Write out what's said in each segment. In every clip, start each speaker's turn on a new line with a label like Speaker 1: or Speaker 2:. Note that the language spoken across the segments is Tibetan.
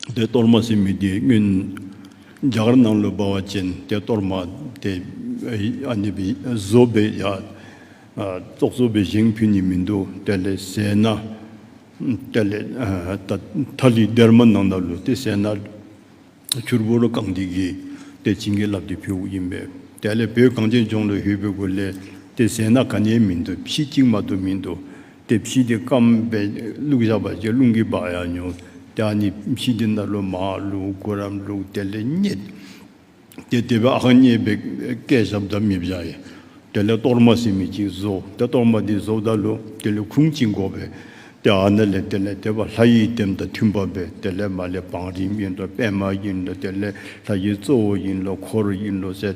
Speaker 1: དེ་གཏོར་མ་སྲིན་མོ་དེའི་སྔོན། རྒྱ་གར་ནང་ལོ་སྦ་བ་ཅན་དེ་གཏོར་མ་དེ། བཟོ་སྦས་ཡ། བཙོག་བཟོ་སྦས་བཞེངས་ཕུལ་ནི་མི་འདུག་དེ་ལས་ཟད་ན། དེ་ལས། ཐ་ལི་སྡེར་མ་ནང་ན་ལུ་དེ་ཟད་ན། ཕྱུར་བུ་རུ་གང་དེ་གིས་དེ་བྱིན་གྱིས་བརླབས་ཏེ་ཕུལ་བ་ཡིན་པས། དེ་ལས་བོད་གངས་ཅན་ལྗོངས་ལ་ཧུད་བོད་བུ་ལས་དེ་ཟད་ན་ག་ནས་མི་འདུག་ཕྱི་གཅིག་མ་གཏོགས་མི་འདུག། དེ་ཕྱིས་དེ་སྐམ་པས་བླུགས་བཞག་པ་ཅིག་རླུང་གིས་སྦགས་ཡང་ཉོན། དེའང་ནི་ཕྱིས་དེ་སྣ་ལོ་མའང་བླུགས་དགུ་རམ་བླུགས་དེ་ལས་རྙེད། དེ་དེ་བས་ཨང་རྙེད་པས་སྐད་ཞབས་བདག་མི་བཞག་ཡིན། དེ་ལས་གཏོར་མ་སེ་མི་གཅིག་བཟོ། དེ་གཏོར་མ་དེ་བཟོ་བདག་བླུགས་དེ་ལས་ཁུང་གཅིག་འགོག་པས། དེ་ཨ་ན་ལས་དེ་ལས་དེ་བ་ལྷ་ཡི་ལྟེམ་དང་མཐུན་པ་བས་དེ་ལས་མ་ལས་བང་རིམ་ཡིན་ལོ་པད་མ་ཡིན་ལོ་དེ་ལས་ལྷ་ཡི་གཙོ་བོ་ཡིན་ལོ་འཁོར་ཡིན་ལོ་ཟེར།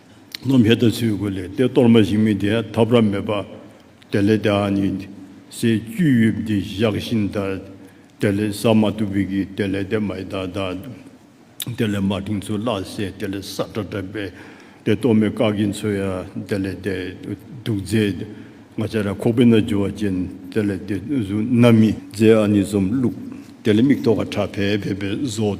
Speaker 1: རྣམས་ཧེ་ད་ཚུལ་དགུ་ལས་ཏེ་གཏོར་མ་ཞིག་མི་དེ་ཐབ་ར་མེད་པ། དེ་ལས་ཏེ་ཨ་ནི་སའི་བཅུད་དབྱིབས་འདི་བཞག་བཞིན་དར། དེ་ལས་ས་མ་ཏུ་བི་གི་དེ་ལས་ཏེ་མ་ཨི་དཱ་དཱ། དེ་ལས་མ་ཏིང་ཚུ་བླ་སེ་དེ་ལས་ས་ཏྲ་ཏྲ་པེ། ཏེ་གཏོར་མའི་ཀ་གི་མཚོ་ཡ་དེ་ལས་ཏེ་དུག་རྫས་ང་ཅ་ར་ཁོག་པི་ན་ཇུ་བ་ཅན་དེ་ལས་ཏེ་གཟུགས་ན་མི་རྫས་ཨ་ནི་ཟོམ་བླུགས། དེ་ལས་མིག་ཐོག་ཁ་ཁྲ་བལ་བལ་པའི་བཟོ།